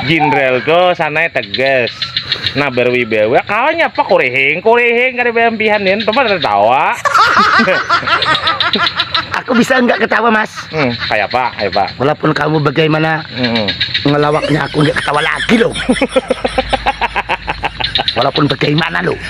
Jinderal tuh sanai tegas, nah berwibawa kawa nyapa kurihing kurihing kada baampihan din tuh pada tatawa. Aku bisa enggak ketawa mas. Hmm, kaya apa kaya apa. Walaupun kamu bagaimana hmm. ngelawaknya aku enggak ketawa lagi loh. Walaupun bagaimana loh.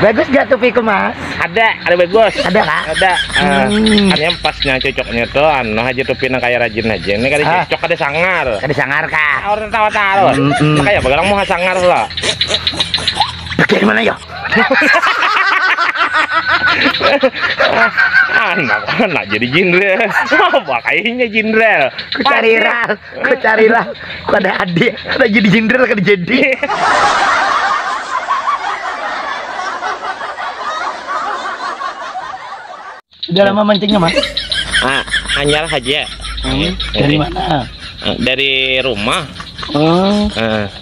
bagus gak tupiku mas ada ada bagus ada kak ada uh, hmm. kan yang pasnya cocoknya tuh anu aja tupi nang kayak rajin aja ini kada ah. cocok kada sangar kada sangar kak ah, orang tawa tahu hmm, hmm. kayak bagarang mau sangar lah dari mana ya anak anak jadi jenderal apa kayaknya jenderal cari ral Ku carilah kada ada, kada jadi jenderal kada jadi. Sudah lama mancingnya mas? Ah, hanyar saja. Hmm, dari mana? Dari rumah. Oh. Uh.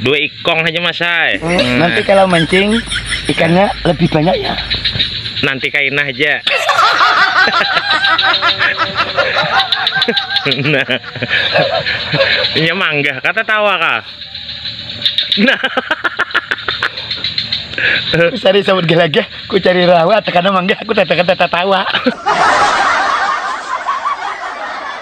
dua ikong aja mas hai hmm, nanti kalau mancing ikannya lebih banyak ya nanti kainah aja nah ini mangga kata tawa kah nah cari sabut gelaga ku cari rawa tekan mangga aku tekan tata tawa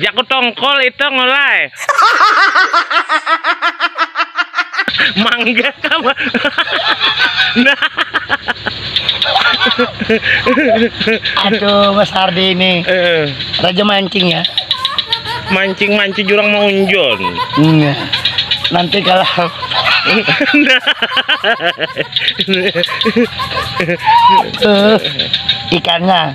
Jaku tongkol itang ulai. Mangga ka ba nah. Aduh Mas Hardi ini. Uh. Raja mancing ya. Mancing mancing jurang maunjon. Iya. Nanti kalau uh, ikannya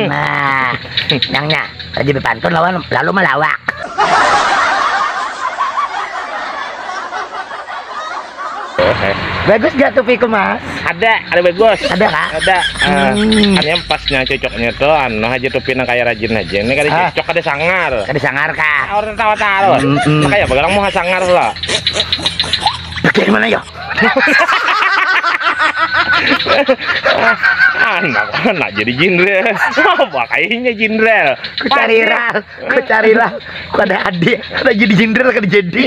Nah, nangnya rajin bepantun lawan lalu malawak. Bagus gak tupiku mas? Ada, ada bagus. Ada kah? Ada. Uh, hmm. Hanya pasnya cocoknya tuh anu aja tupi nang kayak rajin aja. Ini kada ah. cocok kada sangar. Kada sangar kah? Ah, orang tawa tawa. Hmm, hmm. Kayak bagarang mau sangar lah. Bagaimana ya? anak anak jadi jenderal apa kayaknya jenderal ku cari lah ku cari lah ku ada adik ada jadi jenderal kan jadi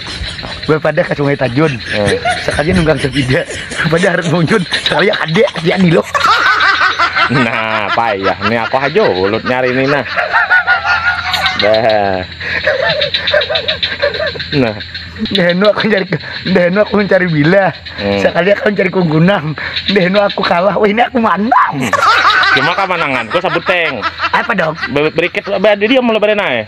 gue pada ke sungai Tajun eh. sekalinya nunggang sepeda pada harus muncul sekali ada dia nih loh nah payah nih aku aja ulut nyari ini nah dah nah Dahenu aku cari Dahenu aku mencari bila hmm. sekali aku mencari kunggunang Dahenu aku kalah wah ini aku manang cuma kamananganku sabuteng apa dong berikit dia mulai berenai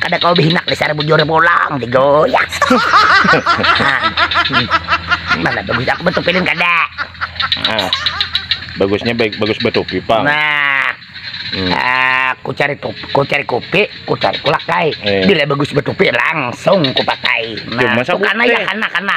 Kada kawa behinak dasar bujur pulang digoyang. Mana bagus aku batupi lin kada. Ah. Bagusnya baik bagus batupi pang. Nah. Hmm. Uh, ku cari tup, ku cari kopi, ku cari kulakai. Eh. Bila bagus batupi langsung ku pakai. Nah, Cuma karena ya karena karena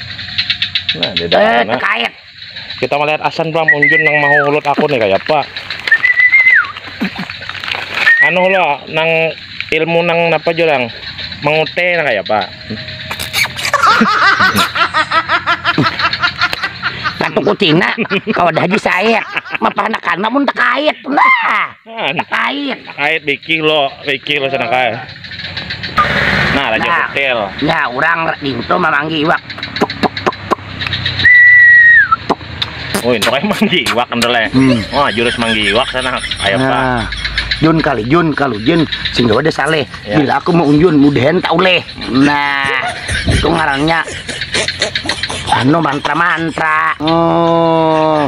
Nah, dia eh, nah. terkait. Kita melihat asan Bang Munjun nang mau ulut aku nih kayak apa. Anu lo nang ilmu nang apa jurang mengute nang kayak apa. Katu kucina kalau dah haji saya, mah pernah karena mun terkait. Nah. Kan. Kait. Kait bikih lo, bikih lo sana kait. Nah, raja nah, kutil. Nah, orang dintu mamanggi iwak. Oh, itu kayak manggi iwak kendele. Hmm. Oh, jurus manggi iwak sana. Ayo, nah. Pak. Jun kali Jun kalau Jun sing gawa deh saleh. Ya. Bila aku mau unjun mudahan tak oleh. Nah, itu ngarannya anu mantra-mantra. Oh.